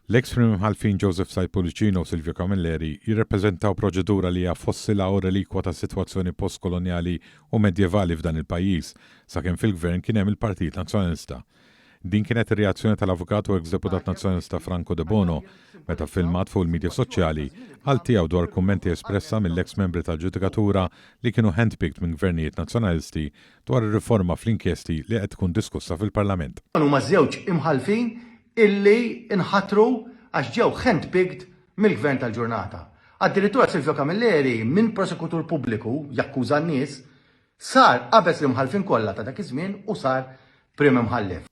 L-eks Prim Imħallfin Joseph Said Pullicino u Silvio Camilleri jirrappreżentaw proċedura li hija fossila u relikwa ta' sitwazzjoni post-kolonjali u medjevali f'dan il-pajjiż, sakemm fil-Gvern kien hemm il-Partit Nazzjonalista. Din kienet ir-reazzjoni tal-avukat u eks deputat Nazzjonalista Franco Debono meta ffilmat fuq il-midja soċjali qal tiegħu dwar kummenti espressa mill-eks membri tal-ġudikatura li kienu handpicked minn Gvernijiet Nazzjonalisti dwar ir-riforma fl-inkjesti li qed tkun diskussa fil-Parlament. Dawn huma ż-żewġ Imħallfin illi nħatru għax ġew handpicked mill-Gvern tal-ġurnata. Addirittura Silvio Camilleri minn prosekutur pubbliku jakkuża n-nies, sar qabeż l-imħallfin kollha ta' dak iż-żmien u sar Prim Imħallef.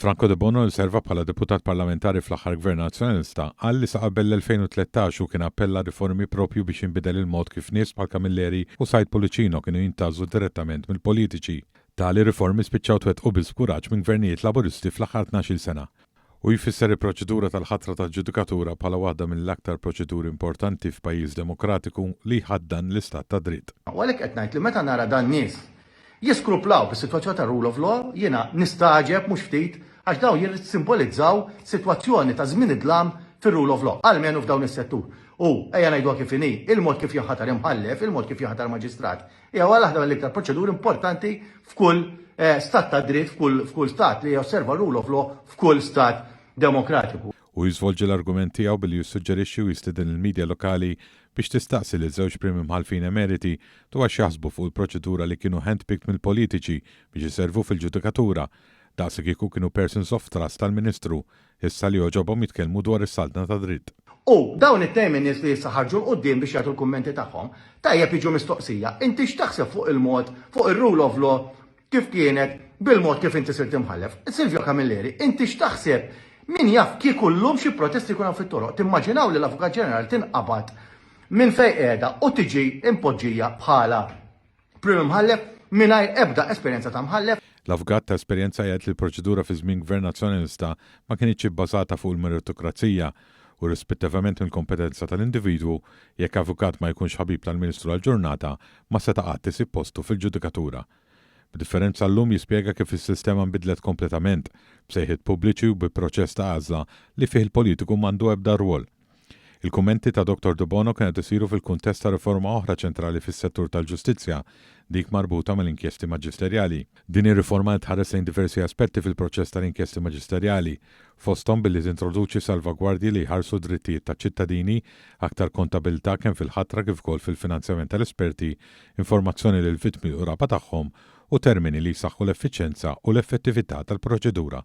Franco Debono li serva bħala Deputat Parlamentari fl-aħħar Gvern Nazzjonalista qal li sa qabel l-2013 hu kien appella għal riformi proprju biex jinbidel il-mod kif nies bħal Camilleri u Said Pullicino kienu jintgħażlu direttament mill-politiċi. Tali riformi spiċċaw twettqu biss b'kuraġġ minn gvernijiet Laburisti fl-aħħar tnax-il sena. Hu jfisser il-proċedura tal-ħatra tal-ġudikatura bħala waħda mill-aktar proċeduri importanti f'pajjiż demokratiku li jħaddan l-istat tad-dritt. U għalhekk qed ngħid li meta nara dan-nies jiskruplaw bis-sitwazzjoni tar-rule of law, jiena nistagħġeb mhux ftit għax dawn jissimbolizzaw sitwazzjoni ta' żmien id-dlam fir-rule of law, almenu f'dawn is-settur. U, ejja ngħiduha kif inhi, il-mod kif jinħatar imħallef, il-mod kif jinħatar maġistrat, Hija waħda mill-iktar proċeduri importanti f'kull eh, stat ta' dritt, f'kull stat li josserva rule of law, f'kull stat demokratiku. U jiżvolġi l-argument tiegħu billi jissuġġerixxi u jistieden il-media lokali biex tistaqsi lil żewġ Prim Imħallfin Emeriti dwar x'jaħsbu fuq il-proċedura li kienu handpicked mill-politiċi biex iservu fil-ġudikatura daqs kieku kienu persons of trust tal-Ministru Issa li għoġobhom jitkellmu dwar is-Saltna tad-Dritt. U dawn it-temi nies li issa ħarġu l-quddiem biex jagħtu l-kummenti tagħhom, tajjeb jiġu mistoqsija, inti x'taħseb fuq il-mod, fuq ir-rule of law kif kienet bil-mod kif inti sirt imħallef? Silvio Camilleri, inti x'taħseb, min jaf kieku llum xi protesti jkun hawn fit-toroq, timmaġinaw li l-Avukat Ġenerali tinqabad minn fejn qiegħda u tiġi impoġġija bħala Prim Imħallef mingħajr ebda esperjenza ta' Mħallef. L-avukat ta' esperjenza jgħid li l-proċedura fi żmien Gvern Nazzjonalista ma kinitx ibbażata fuq il-meritokrazija u rispettivament mill-kompetenza tal-individwu, jekk avukat ma jkunx ħabib tal-Ministru għal ġurnata ma seta' qatt isib postu fil-ġudikatura. B'differenza llum jispjega kif is-sistema nbidlet kompletament, b'sejħiet pubbliċi u bi proċess ta' għażla li fih il-politiku m'għandu ebda rwol. Il-kummenti ta' Dottor Debono kien qed isiru fil-kuntest ta' riforma oħra ċentrali fis-settur tal-ġustizzja, dik marbuta mal-inkjesti maġisterjali. Din ir-riforma qed tħares lejn diversi aspetti fil-proċess tal-inkjesti maġisterjali, fosthom billi tintroduċi salvagwardji li jħarsu d-drittijiet taċ-ċittadini, aktar kontabilità kemm fil-ħatra kif ukoll fil-finanzjament tal-esperti, informazzjoni lill-vittmi l-qraba tagħhom u termini li jsaħħu l-effiċjenza u l-effettività tal-proċedura.